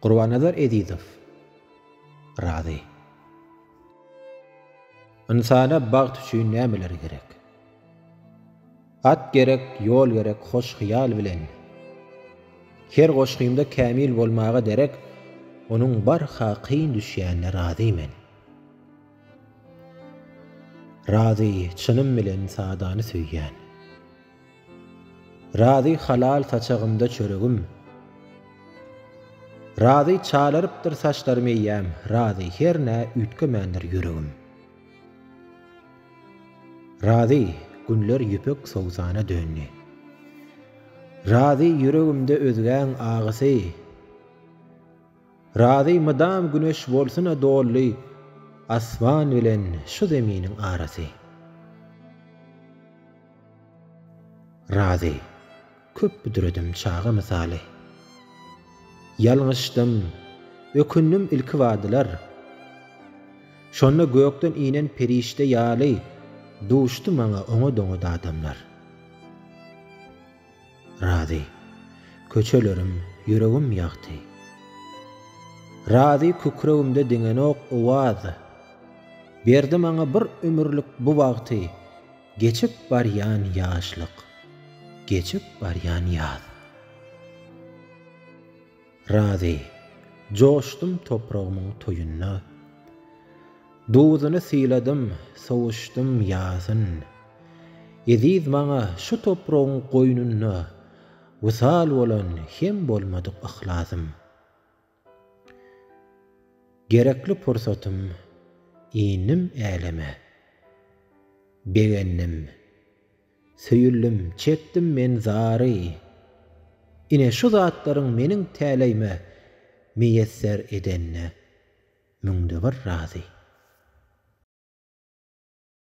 Gurbannazar Ezizow, Razy. Ynsana bagt üçin nämeler gerek? At gerek, ýol gerek hoş hyýal bilen. Her goşgymda kämil bolmaga derek, Onuň barha kyn düşýänine razy men. Razy, çynym bilen sadany söýýän. Razy halal saçagymda çöregim. Razy çalarypdyr saçlarym eýýäm, razy hernä üýtgemändir ýüregim. Razy, günler ýüpek sowsana döndi. Razy ýüregimde özgäň agysy. Razy mydam güneş bolsuna dolly asman bilen şu zeminiň arasy. Razy köp büdredim çaga mysaly. Ýalňyşdym, ökündim ilki badylar. Şonda gökden inen perişde ýaly duşdy maňa oňa-doňa dadamlar. Razy, köçelerim, ýüregim ýagty. Razy kükregimde diňenok owaz. Berdi maňa bir ömürlik bu bagty, Geçip barýan ýaşlyk, geçip barýan ýaz. Razy, joşdum topragymyň toýunda. Duzuny syladym, sowuşdym ýazyn. Eziz maňa şu topragyň goýnunda wysal bolan hem bolmadyk yhlasym. Gerekli pursatym, indim äleme. Begendim. Söýüldim, çekdim men zary. Ine şu zatlaryň meniň täleýime miýesser edenine müňde bir razy.